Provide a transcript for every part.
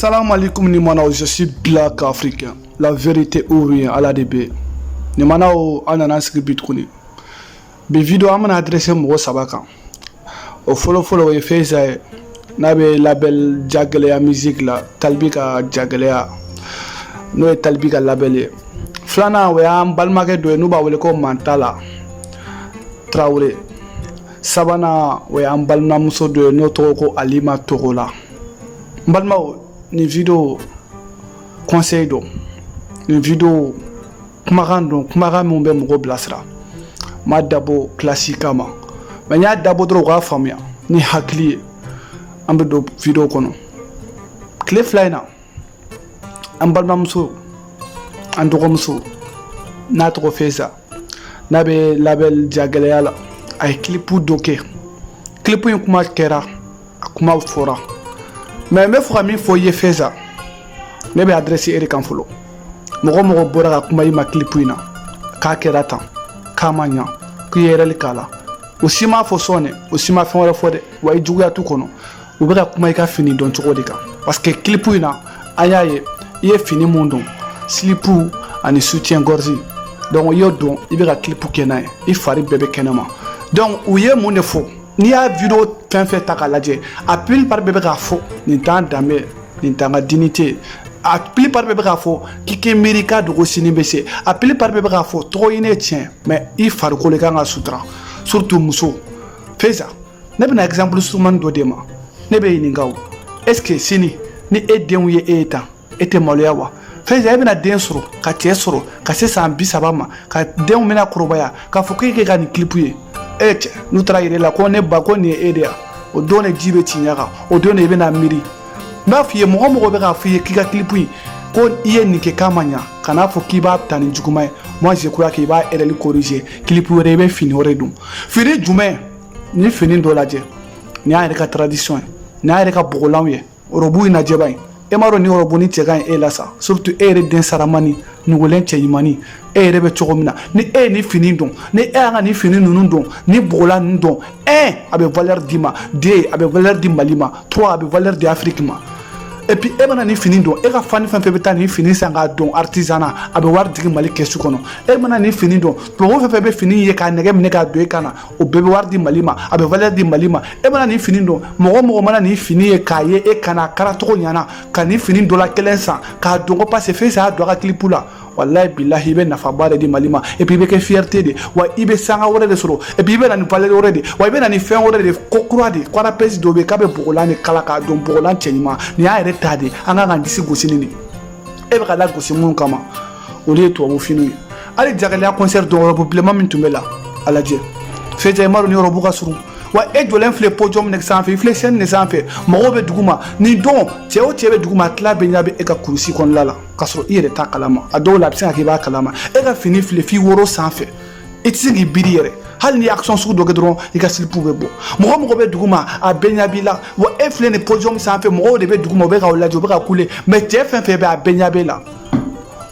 Salam alaikum ni manaw je suis black africain la vérité ou rien ala de bɛ ni manaw an nana sigi bi tuguni bi video an bɛna adresse mɔgɔ saba kan o fɔlɔfɔlɔ o ye feza ye n'a bɛ label jagɛlɛya musique la talibi ka jagɛlɛya n'o ye talibi ka label ye filanan o y'an balimakɛ dɔ ye n'u b'a wele ko mantala tarawele sabanan o y'an balimamuso dɔ ye n'o tɔgɔ ko alima togola n balimaw nin video conseil don nin video kumakan don kumakan min bɛ mɔgɔ bilasira n m'a dabɔ clash kama mais n y'a dabɔ dɔrɔn u k'a faamuya ni hakili ye an bɛ don video kɔnɔ tile fila in na an balimamuso an dɔgɔmuso n'a tɔgɔ feza n'a bɛ label jagɛlɛya la a ye kilipu dɔ kɛ kilipu in kuma kɛra a kuma fɔra mais n bɛ fɛ ka min fɔ i ye feza ne bɛ adresse e de kan fɔlɔ mɔgɔ mɔgɔ bɔra ka kuma i ma kilipu in na k'a kɛra tan k'a ma ɲa k'i ye erreur k'a la o si m'a fɔ son dɛ o si ma fɛn wɛrɛ fɔ dɛ wa i juguya t'u kɔnɔ u bɛ ka kuma i ka fini don cogo de kan parce que kilipu in na an y'a ye i ye fini mun don slip ani soutien gorge donc i y'o don i bɛ ka kilipu kɛ n'a ye i fari bɛɛ bɛ kɛnɛma donc u ye mun de fɔ n'i y'a video fɛn fɛn ta k'a lajɛ a plupart bɛɛ bɛ k'a fɔ nin t'an danbe nin t'an ka dignité a plupart bɛɛ bɛ k'a fɔ k'i k'i miiri i k'a dɔn ko sini bɛ se a plupart bɛɛ bɛ k'a fɔ tɔgɔ ɲini ye tiɲɛ mais i farikolo i kan k'a sutura surtout muso feza ne bɛna exemple surumani dɔ d'e ma ne b'e ɲininka o est ce que sini ni e denw ye e ye tan e tɛ maloya wa feza e bɛna den sɔrɔ ka cɛ sɔrɔ ka se san bi saba ma ka denw bɛna kɔrɔbaya k'a fɔ k'e kɛ ka nin kilipu ye est ce n'u taara yira e la ko ne ba ko nin ye e de ya o don de ji bɛ ci ɲɛ kan o don de i bɛna miiri n b'a f'i ye mɔgɔ mɔgɔ bɛ k'a f'i ye k'i ka kilipu in ko i ye nin kɛ k'a ma ɲa kan'a fɔ k'i b'a ta ni juguman ye moi je crois k'i b'a erreur corriger kilipu wɛrɛ i bɛ fini wɛrɛ don fini jumɛn ni fini dɔ lajɛ ni y'an yɛrɛ ka tradition ye ni y'an yɛrɛ ka bɔgɔlanw ye ɔrɔbu in lajɛ bani e m'a dɔn ni ɔrɔbu ni cɛ ka ɲi e la sa surtout e yɛrɛ den saramani nugulen cɛ ɲumanni e yɛrɛ bɛ cogo min na ni e ye ni fini don ni e y'an ka ni fini ninnu don ni bɔgɔlan ninnu don un a bɛ valeur d'i ma deux a bɛ valeur di mali ma trois a bɛ valeur di afiriki ma et puis e mana ni fini don e ka fan fɛn fɛn bɛ taa ni fini san k'a don artisanat a bɛ wari jigin mali kɛsu kɔnɔ e mana ni fini don tubabu fɛn fɛn bɛ fini ye k'a nege minɛ k'a don e kan na o bɛɛ bɛ wari di mali ma a bɛ valeur di mali ma e mana nin fini don mɔgɔ mɔgɔ mana nin fini ye k'a ye e kana kara cogo ɲana ka nin fini dɔ la kelen san k'a don ko parce que feza y'a don a ka kilipu la walayi bilahi i bɛ nafaba de di mali ma et puis i bɛ kɛ fierté de wa i bɛ sanga wɛrɛ de sɔrɔ et puis i bɛ na ni valeur wɛrɛ de wa i bɛ na ni fɛn wɛrɛ de ko kura de ko rappeuse dɔ bɛ yen k'a bɛ bogolan de kala k'a don bogolan cɛ ɲuman nin y'an yɛrɛ ta de an kan k'an disi gosi nin de e bɛ ka lagosi minnu kama olu ye tubabu finiw ye hali jagɛlɛya concert don y'a rɔbu bilenman min tun b'i la a lajɛ feza i m'a dɔn ni y'a rɔbu ka surun wa e jɔlen filɛ podium ne sanfɛ i filɛ scène ne sanfɛ mɔgɔw bɛ duguma nin don cɛ o cɛ bɛ duguma a tila bɛɛ ɲa bɛ e ka kurusi kɔnɔna la k'a sɔrɔ i yɛrɛ t'a kalama a dɔw la a bɛ se ka kɛ i b'a kalama e ka fini filɛ f'i woro sanfɛ i tɛ se k'i biri yɛrɛ hali ni action sugu dɔ kɛ dɔrɔn i ka silipu bɛ bɔ mɔgɔ mɔgɔ bɛ duguma a bɛɛ ɲa b'i la wa e filɛ nin podium sanfɛ mɔgɔw de bɛ duguma u bɛ k'aw lajɛ u bɛ ka kule mais cɛ fɛn fɛn bɛ a bɛɛ ɲa b'e la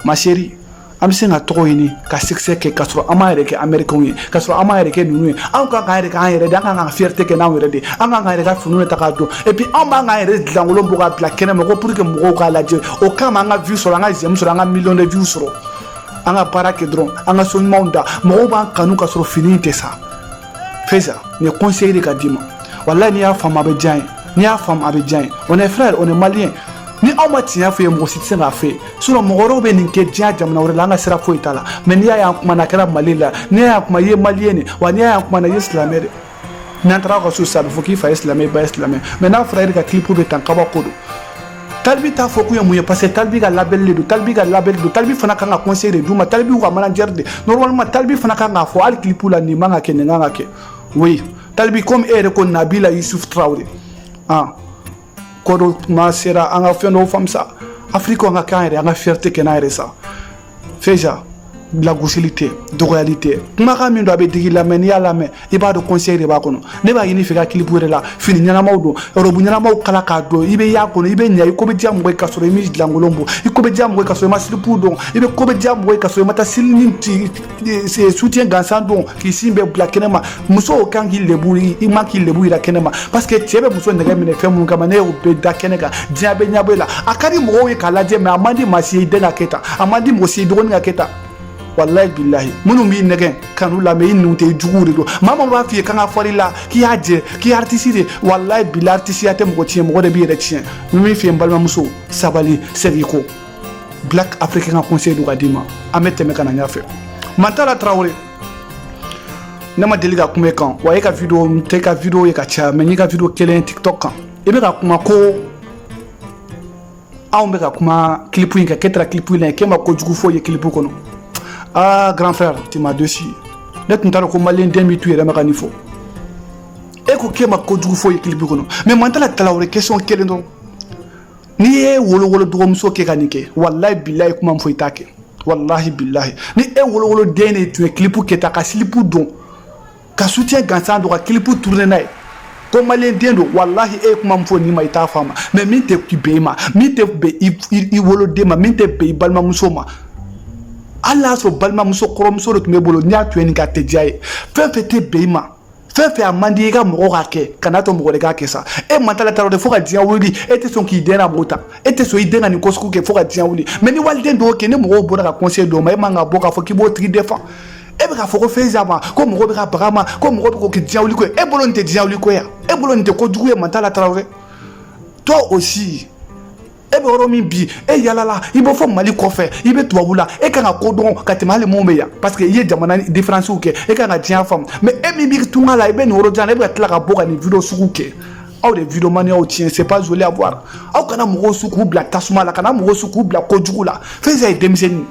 ma chérie an bɛ se ka tɔgɔ ɲini ka succès kɛ k'a sɔrɔ an m'an yɛrɛ kɛ amerikɛnw ye k'a sɔrɔ an m'an yɛrɛ kɛ ninnu ye anw kan k'an yɛrɛ kɛ an yɛrɛ de an kan ka fierté kɛ n'anw yɛrɛ de an kan k'an yɛrɛ ka finiw de ta k'a don et puis anw ban k'an yɛrɛ julankolon bɔ k'a bila kɛnɛ ma ko pour que mɔgɔw k'a lajɛ o kama an ka vue sɔrɔ an ka j'aime sɔrɔ an ka million de vues sɔrɔ an ka baara kɛ dɔrɔn an ka son ɲumanw da mɔgɔw b'an kanu k'a sɔrɔ fini in tɛ sa feza nin conseil de ka d'i ma walayi n'i y'a faamu a bɛ diya i ye n'i y'a faamu a bɛ diya i ye on est frère on est malien ni anw ma tiɲɛ f'u ye mɔgɔ si tɛ se k'a f'u ye sinon mɔgɔ wɛrɛw bɛ nin kɛ diɲɛ jamana wɛrɛ la an ka sira foyi t'a la mais n'i y'a ye an kumana a kɛra mali la n'i y'a ye an kuma i ye malien de wa n'i y'a ye an kumana i ye silamɛ de n'an taara aw ka so sisan a bɛ fɔ k'i fa ye silamɛ i ba ye silamɛ mais n'a fɔra e de ka kilipu bɛ tan kabako don talibi t'a fɔ kun ye mun ye parce que talibi ka label de don talibi ka label don talibi fana kan ka conseil de d'u ma talibi y'u ka manager de normalement talibi fana kan k'a fɔ hali clip la nin man ka kɛ nin kan ka kɛ oui talibi comme e yɛrɛ ko nabila yusuf traore ah kɔdɔ tuma sera an ka fɛn dɔw faamu sa afrique an ka kɛ an yɛrɛ an ka fierté kɛ n'an yɛrɛ sa feza lagosili tɛ dɔgɔyali tɛ kumakan min don a bɛ digi i la mais n'i y'a lamɛn i b'a dɔn conseil de b'a kɔnɔ ne b'a ɲini i fɛ ka kilipu wɛrɛ la fini ɲɛnamaw don rɔbu ɲɛnamaw kala k'a don i bɛ ɲ'a kɔnɔ i bɛ ɲɛ i ko bɛ diya mɔgɔ ye k'a sɔrɔ i m'i julankolon bɔ i ko bɛ diya mɔgɔ ye k'a sɔrɔ i ma silipu don i bɛ ko bɛ diya mɔgɔ ye k'a sɔrɔ i ma taa sili ni soutien gansan don k'i sin bɛɛ bila kɛnɛ ma musow kan k'i lebu i man k'i lebu yira kɛnɛ ma parce que cɛ bɛ muso nɛgɛ minɛ fɛn minnu kama n'i y'o bɛɛ da kɛnɛ kan diɲɛ bɛ ɲɛbɔ i la a ka di mɔgɔw ye k'a lajɛ mais a man di maa si ye i den ka kɛ tan a man di mɔgɔ si ye i dɔgɔnin ka kɛ tan walayi bilahi minnu b'i nɛgɛn kanu la mais i ninnu tɛ juguw de don maa min b'a f'i ye kan ka fɔli la k'i y'a jɛ k'i artiste de walayi bilahi aritisiya tɛ mɔgɔ tiɲɛ mɔgɔ de b'i yɛrɛ tiɲɛ n bɛ min f'i ye n balimamuso sabali segin kɔ black africain ka conseil don ka d'i ma an bɛ tɛmɛ ka na ɲɛfɛ mantala tarawele ne ma deli ka kuma e kan wa e ka video n tɛ ka video ye ka caya mais n y'i ka video kelen tiktok kan i bɛ ka kuma ko anw bɛ ka kuma clip in kan k'e taara clip in na k'e ma kojugu foyi ye clip kɔnɔ aa grand frère tu m'as déçu ne tun t'a dɔn ko maliyɛn den b'i to yɛrɛ ma ka nin fɔ e ko k'e ma kojugu foyi ye clip kɔnɔ mais Mantala Traoré question kelen dɔrɔn ni e wolowolo dɔgɔmuso kɛ ka nin kɛ walayi bilayi kuma min fɔ i t'a kɛ walahi bilahi ni e wolowolo den de tun ye clip kɛ tan ka slip don ka soutien gansan don ka clip tourner n'a ye ko maliyɛn den don walahi e ye kuma min fɔ nin ma i t'a fɔ a ma mais min tɛ bɛn i ma min tɛ bɛn i woloden ma min tɛ bɛn i balimamuso ma hali n'a sɔrɔ balimamuso kɔrɔmuso de tun b'e bolo n'i y'a to yen nin ka tɛ diya ye fɛn fɛn tɛ bɛn i ma fɛn fɛn a man di i ka mɔgɔ k'a kɛ kana to mɔgɔ den k'a kɛ sa e Mantala Traoré fo ka diɲɛ wuli e tɛ sɔn k'i den na b'o ta e tɛ sɔn i den ka nin ko sugu kɛ fo ka diɲɛ wuli mais ni waliden de y'o kɛ ni mɔgɔw bɔra ka conseil d'o ma e man ka bɔ k'a fɔ k'i b'o tigi défend e bɛ k'a fɔ ko Faïza ma ko mɔgɔ bɛ ka baga ma ko mɔgɔ bɛ k'o kɛ diɲɛ wuli ko ye e bolo nin tɛ diɲɛ wuli ko ye e bolo nin tɛ kojugu ye Mantala Traoré toi aussi e bɛ yɔrɔ min bi e yalala i bɛ fo Mali kɔfɛ i bɛ tubabu la e kan ka ko dɔn ka tɛmɛ hali mun bɛ yan parce que i ye jamana diferansiw kɛ e kan ka diɲɛ faamu mais e min bɛ tunga la i bɛ nin yɔrɔ jan e bɛ ka tila ka bɔ ka nin video sugu kɛ aw de videomaniyaw tiɲɛ c'est pas joli à voir aw kana mɔgɔw su k'u bila tasuma la kana mɔgɔw su k'u bila kojugu la Faïza ye denmisɛnnin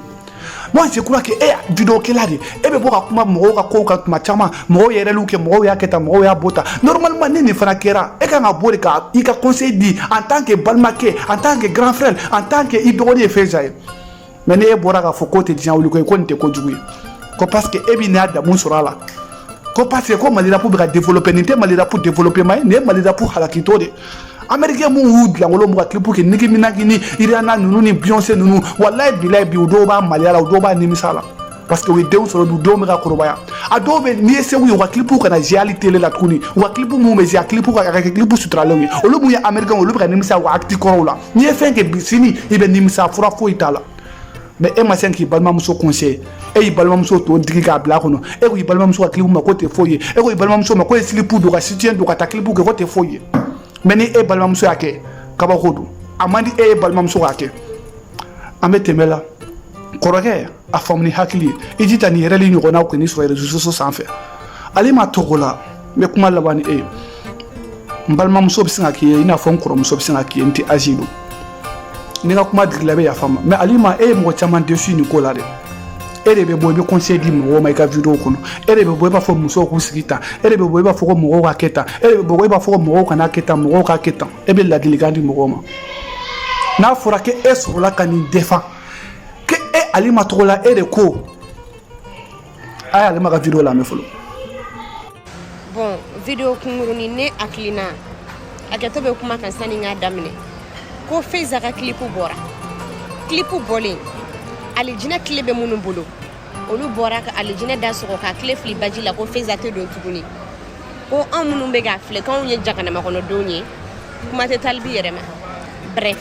Moi, je crois que e ye videokɛla de e bɛ bɔ ka kuma mɔgɔw ka kow kan tuma caman mɔgɔw ye erreurw kɛ mɔgɔw y'a kɛ tan mɔgɔw y'a bɔ tan normalement ni nin fana kɛra e kan ka bɔ de ka i ka conseil di en tant que balimakɛ en tant que grand frère en tant que i dɔgɔnin ye Faïza ye mais n'e bɔra k'a fɔ k'o tɛ diɲɛ wuli ko ye ko nin tɛ kojugu ye ko parce que e b'i ɲa damu sɔrɔ a la ko parce que ko Mali rap bɛ ka développer nin tɛ Mali rap développement ye nin ye Mali rap halakitɔ de américain minnu julankolon b'u ka clip kɛ Nicki Minaj ni Rihanna ninnu ni Beyoncé ninnu walayi bilayi bi u dɔw b'a maloya la u dɔw b'a nimisa la parce que u ye denw sɔrɔ bi u denw bɛ ka kɔrɔbaya a dɔw bɛ n'i ye seko ye u ka clip kana jouer hali tele la tuguni u ka clip minnu bɛ jouer a clip ka kɛ clip suturalenw ye olu mun ye américain olu bɛ ka nimisa u ka acte kɔrɔw la n'i ye fɛn kɛ bi sini i bɛ nimisa fura foyi t'a la mais e ma se k'i balimamuso conseiller e y'i balimamuso tɔn digi k'a bila a kɔnɔ e ko i balimamuso ka clip ma k'o tɛ foyi ye e ko i balimamuso ma k'o ye slip don ka soutien don ka taa clip kɛ k'o tɛ foyi ye mais ni e balimamuso y'a kɛ kabako don a man di e ye balimamuso k'a kɛ an bɛ tɛmɛ la kɔrɔkɛ a faamu ni hakili ye i jija nin erreur ɲɔgɔnnaw kan'i sɔrɔ réseaux sociaux sanfɛ Alima Togola n bɛ kuma laban ni e ye n balimamuso bɛ se ka k'i ye i n'a fɔ n kɔrɔmuso bɛ se ka k'i ye n t'i âge dɔn ni n ka kuma digila i bɛ yafa n ma mais Alima e ye mɔgɔ caman déçu nin ko la dɛ e de bɛ bɔ i bɛ conseil di mɔgɔw ma i ka video kɔnɔ e de bɛ bɔ i b'a fɔ musow k'u sigi tan e de bɛ bɔ i b'a fɔ ko mɔgɔw ka kɛ tan e de bɛ bɔ i b'a fɔ ko mɔgɔw kana kɛ tan mɔgɔw ka kɛ tan e bɛ ladilikan di mɔgɔw ma n'a fɔra ko e sɔrɔla ka nin défend ko e Alima Togola e de ko a y'alima ka video lamɛn fɔlɔ bon video kunkuruni ne hakilina hakɛto bɛ kuma kan sani n k'a daminɛ ko feiza ka kilipu bɔra kilipu bɔlen alijinɛ kile bɛ minnu bolo olu bɔra ka alijinɛ da sɔgɔ k'a kile fili baji la ko feiza tɛ don tuguni ko anw minnu bɛ k'a filɛ k'anw ye jaganama kɔnɔdenw ye kuma tɛ talibi yɛrɛ ma bref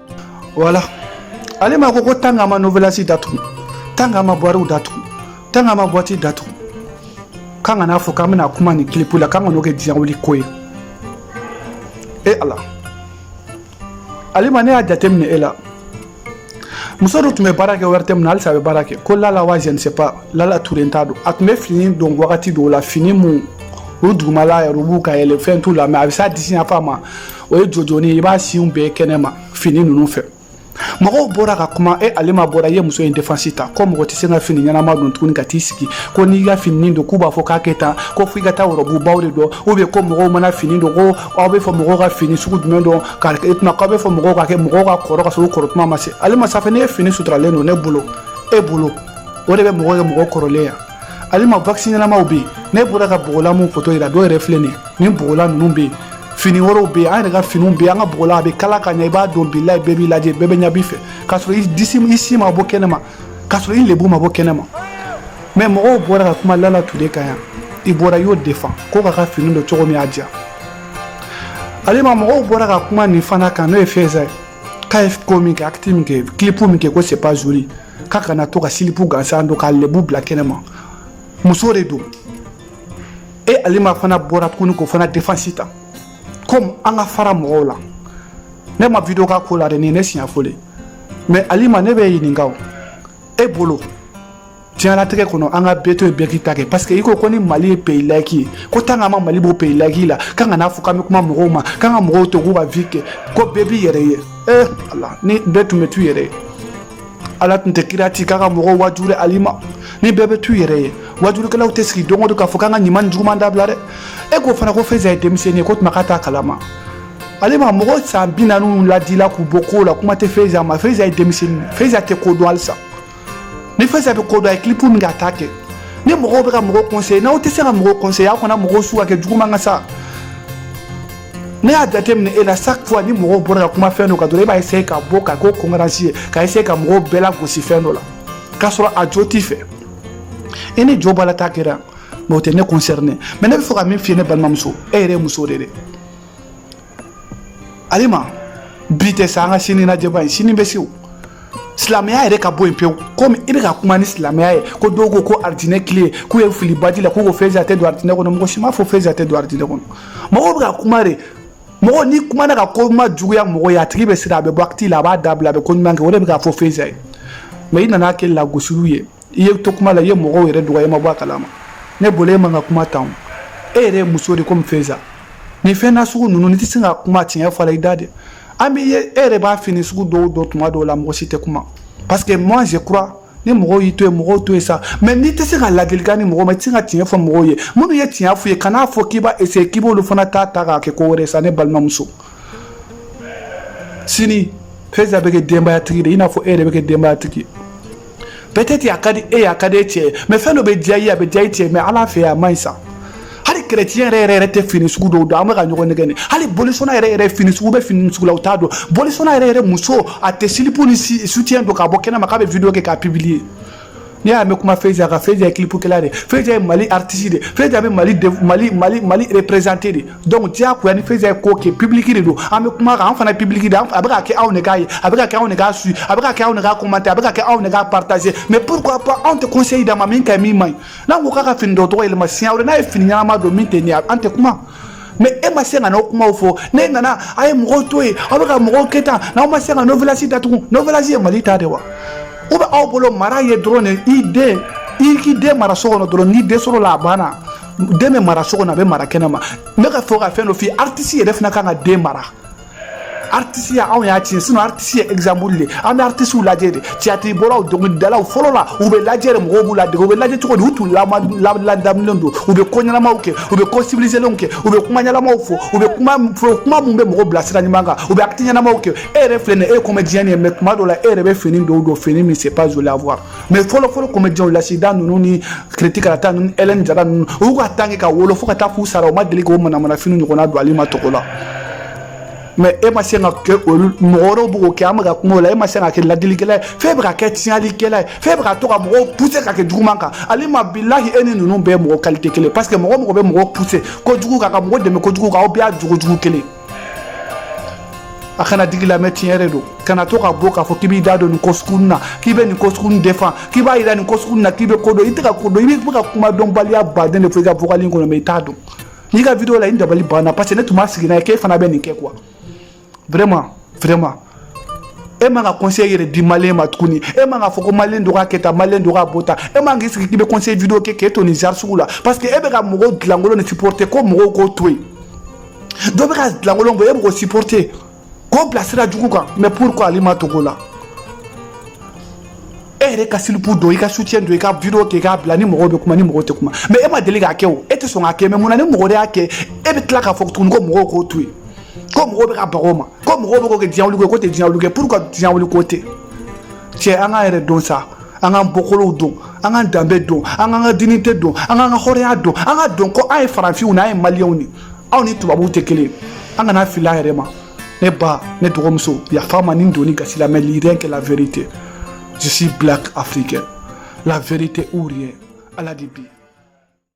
voilà alima ko ko tant k'an ma novelas datugu tant k'an ma bariw datugu tant k'an ma boîte datugu k'an kana fɔ k'an bɛna kuma nin kilipu la k'an kan'o kɛ diɲɛ wuli ko ye e ala alima ne y'a jateminɛ e la muso dɔ tun bɛ baara kɛ ORTM na halisa a bɛ baara kɛ ko lala wa je ne sais pas lala ture n t'a dɔn a tun bɛ fini don wagati dɔw la fini minnu dugumala yɛrɛ u b'u ka yɛlɛ fɛn t'u la mais a bɛ s'a disi yanfan ma o ye jojɔni ye i b'a sinw bɛɛ kɛnɛma fini ninnu fɛ mɔgɔw bɔra ka kuma e alima bɔra i ye muso in défense ta ko mɔgɔ tɛ se ka fini ɲɛnama don tuguni ka t'i sigi ko n'i ka fini don k'u b'a fɔ k'a kɛ tan ko f'i ka taa wɔrɔbubaw de don ou bien ko mɔgɔw mana fini don ko aw bɛ fɔ mɔgɔw ka fini sugu jumɛn don ka e tuma k'aw bɛ fɔ mɔgɔw ka kɛ mɔgɔw ka kɔrɔ ka sɔrɔ u kɔrɔ tuma ma se alima sanfɛ ne ye fini suturalen don ne bolo e bolo o de bɛ mɔgɔ kɛ mɔgɔ kɔrɔlen yan alima waksi ɲɛnamaw bɛ yen ne bɔra ka bɔgɔlan min foto yira dɔw yɛrɛ filɛ nin ye nin bɔgɔlan ninnu bɛ yen fini wɛrɛw bɛ yen an yɛrɛ ka finiw bɛ yen an ka bɔgɔlan a bɛ kala ka ɲɛ i b'a don bilayi bɛɛ b'i lajɛ bɛɛ bɛ ɲɛ b'i fɛ k'a sɔrɔ i disi i sin ma bɔ kɛnɛma k'a sɔrɔ i lebu ma bɔ kɛnɛma mais mɔgɔw bɔra ka kuma lala ture kan yan i bɔra i y'o défend ko k'a ka fini don cogo min y'a diya alima mɔgɔw bɔra ka kuma nin fana kan n'o ye feiza ye k'a ye ko min kɛ acte min kɛ kilipu min kɛ ko c'est pas joli k'a kana to ka silipu gansan don k'a lebu bila kɛnɛma muso de don e alima fana bɔra tuguni k'o fana défense ta comme an ka fara mɔgɔw la ne ma video kɛ ko la dɛ nin ye ne siɲɛ fɔlɔ ye mais alima ne b'i ɲininka o e bolo diɲɛlatigɛ kɔnɔ an ka bɛɛ to yen bɛɛ k'i ta kɛ parce que i ko ko ni mali ye pays laïque ye ko tant k'an ma mali bɔ pays laïque la k'an kana fɔ k'an bɛ kuma mɔgɔw ma k'an ka mɔgɔw to k'u ka vie kɛ ko bɛɛ b'i yɛrɛ ye ee ala ni bɛɛ tun bɛ t'u yɛrɛ ye ala tun tɛ kira ci k'a ka mɔgɔw wajuli alima ni bɛɛ bɛ t'u yɛrɛ ye wajulikɛlaw tɛ sigi don o don k'a fɔ k'an ka ɲuman ni juguman dabila dɛ e k'o fana ko feiza ye denmisɛnnin ye ko tuma k'a t'a kala ma alima mɔgɔ san bi naaniw ladila k'u bɔ kow la kuma tɛ feiza ma feiza ye denmisɛnnin feiza tɛ ko dɔn halisa ni feiza bɛ ko dɔn a ye kilipu min kɛ a t'a kɛ ni mɔgɔw bɛ ka mɔgɔw conseiller n'aw tɛ se ka mɔgɔw conseiller aw kana mɔgɔw su ka kɛ juguman kan sa ne y'a jateminɛ e la chaque fois ni mɔgɔw bɔra ka kuma fɛn dɔ kan dɔrɔn e b'a essayer ka bɔ ka k'o concurrence ye ka essayer ka mɔgɔw bɛɛ lagosi fɛn dɔ la k'a sɔrɔ a jo t'i fɛ e ni jo b'a la t'a kɛra mais o tɛ ne concerné mais ne bɛ fɛ ka min f'i ye ne balimamuso e yɛrɛ ye muso de ye dɛ alima bi tɛ sa an ka sini lajɛ bari sini bɛ se o silamɛya yɛrɛ ka bɔ yen pewu komi i bɛ ka kuma ni silamɛya ye ko dɔw ko ko aridinɛ kile k'u ye fili baji la k'u ko Feza tɛ don aridinɛ kɔnɔ mɔgɔ si m'a fɔ Feza tɛ don aridinɛ kɔnɔ mɔgɔw bɛ ka kuma de mɔgɔ n'i kumana ka ko majuguya mɔgɔ ye a tigi bɛ siran a bɛ bɔ acte la a b'a dabila a bɛ ko ɲuman kɛ o de bɛ k'a fɔ Feza ye mais i nana kɛ lagosiliw ye i ye to kuma la i ye mɔgɔw yɛrɛ dɔgɔya i ma bɔ a kalama ne bolo e man ka kuma tan e yɛrɛ ye muso de komi Feza nin fɛn na sugu ninnu n'i tɛ se ka kuma tiɲɛ fɔ la i da de an bɛ ye e yɛrɛ b'a fini sugu dɔw don tuma dɔw la mɔgɔ si tɛ kuma parce que moi je crois ni mɔgɔw y'i to yen mɔgɔw to yen sa mais n'i tɛ se ka ladilikan di mɔgɔ ma i tɛ se ka tiɲɛ fɔ mɔgɔw ye minnu ye tiɲɛ f'u ye kan'a fɔ k'i b'a essayer k'i b'olu fana ta ta k'a kɛ ko wɛrɛ sa ne balimamuso sini Feza bɛ kɛ denbayatigi de i n'a fɔ e yɛrɛ bɛ kɛ denbayatigi ye peut-être a ka di e ye a ka di e cɛ ye mais fɛn dɔ bɛ diya i ye a bɛ diya i cɛ ye mais ala fɛ a man ɲi sa hali chrétien yɛrɛ yɛrɛ yɛrɛ tɛ fini sugu dɔw don an bɛ ka ɲɔgɔn nɛgɛn nin hali bolisɔnna yɛrɛ yɛrɛ fini sugu bɛ fini sugu la u t'a don bolisɔnna yɛrɛ yɛrɛ muso a tɛ silipu ni soutien don k'a bɔ kɛnɛma k'a bɛ video kɛ k'a publier n'i y'a mɛn kuma Feza kan Feza ye kilipukɛla de ye Feza ye Mali artiste de ye Feza bɛ Mali mali mali mali représenter de donc diyagoya ni Feza ye ko kɛ public de don an bɛ kuma kan an fana public de a bɛ ka kɛ anw de k'a ye a bɛ ka kɛ anw de k'a suit a bɛ ka kɛ anw de k'a commenter a bɛ ka kɛ anw de k'a partager mais pourquoi pas anw tɛ conseil d'a ma min ka ɲi min man ɲi n'an ko k'a ka fini doncogo yɛlɛma siɲɛ wɛrɛ n'a ye fini ɲɛnama don min tɛ nin ye an tɛ kuma mais e ma se ka n'o kumaw fɔ ne nana a ye mɔgɔw to yen aw bɛ ka mɔgɔw kɛ tan n'aw ma se ka Novelas datugu Novelas ye Mali ta de wa ou bien aw bolo mara ye dɔrɔn de i den i k'i den mara so kɔnɔ dɔrɔn n'i den sɔrɔla a banna den bɛ mara so kɔnɔ a bɛ mara kɛnɛma n bɛ ka fɔ ka fɛn dɔ f'i ye artiste yɛrɛ fana kan ka den mara artisteya anw y'a tiɲɛ sinon artiste ye exemple de an bɛ artistew lajɛ de tiyatiri bɔlaw dɔnkilidalaw fɔlɔ la u bɛ lajɛ de mɔgɔw b'u ladege u bɛ lajɛ cogo di u tun ladamulen don u bɛ ko ɲɛnamaw kɛ u bɛ ko sivilizelenw kɛ u bɛ kuma ɲɛnamaw fɔ u bɛ kuma fɔ kuma min bɛ mɔgɔ bila sira ɲuman kan u bɛ acte ɲɛnamaw kɛ e yɛrɛ filɛ nin ye e ye comédien de ye mais tuma dɔw la e yɛrɛ bɛ fini dɔw don fini min c'est pas joli à voir mais fɔlɔfɔlɔ comédienw Lasidan ninnu ni kiriti karata ninnu Hélène Jara ninnu u y'u ka temps kɛ ka wolo fo ka taa f'u sara u ma deli k'o manamanafini ɲɔgɔnna don Alima Togola mais e ma se ka kɛ olu mɔgɔ wɛrɛw bɛ k'o kɛ an bɛ ka kuma o la e ma se ka kɛ ladilikɛla ye f'e bɛ ka kɛ tiɲɛlikɛla ye f'e bɛ ka to ka mɔgɔw pousser ka kɛ juguman kan Alima bilahi e ni ninnu bɛɛ ye mɔgɔ qualité kelen parce que mɔgɔ mɔgɔ bɛ mɔgɔ pousser kojugu kan ka mɔgɔ dɛmɛ kojugu kan aw bɛɛ y'a jogo jugu kelen a kana digi i la mais tiɲɛ de don kana to ka bɔ k'a fɔ k'i b'i da don nin ko sugu na k'i bɛ nin ko sugu défend k'i b'a yira nin ko sugu na k'i bɛ ko dɔn i tɛ ka ko dɔn i bɛ ka kuma dɔnbaliya baden de fɔ i ka vocal in kɔnɔ mais i t'a dɔn n y'i ka video lajɛ dabali banna parce que ne tun ma sigi n'a ye k'e fana bɛ nin kɛ quoi vraiment vraiment e man ka conseil yɛrɛ di malien ma tuguni e man ka fɔ ko malien dɔ ka kɛ tan malien dɔ ka bɔ tan e man k'i sigi k'i bɛ conseil video kɛ k'e to nin genre sugu la parce que e bɛ ka mɔgɔw julankolon nin supporter ko mɔgɔw k'o to yen dɔ bɛ ka dilankolon bɔ e bɛ k'o supporter k'o bila sira jugu kan mais pourquoi ale ma togo la e yɛrɛ ka silipu don i ka soutien don i ka video kɛ i k'a bila ni mɔgɔw bɛ kuma ni mɔgɔw tɛ kuma mais e ma deli k'a kɛ o e tɛ sɔn k'a kɛ mais mun na ni mɔgɔ de y'a kɛ e bɛ tila k'a fɔ tuguni ko mɔgɔw k'o to yen ko mɔgɔw bɛ ka baga o ma ko mɔgɔw bɛ k'o kɛ diɲɛ wuli ko ye k'o tɛ diɲɛ wuli ko ye pourquoi diɲɛ wuli ko tɛ cɛ an k'an yɛrɛ dɔn sa an k'an bɔkolow dɔn an k'an danbe dɔn an k'an ka dignité dɔn an k'an ka hɔrɔnya dɔn an k'a dɔn ko an ye farafinw de an ye maliyɛnw de anw ni tubabuw tɛ kelen an kana fili an yɛrɛ ma ne ba ne dɔgɔmuso yafa n ma ni n donn'i gasi la mais rien que la vérité je suis black africain la vérité ou rien ala de bi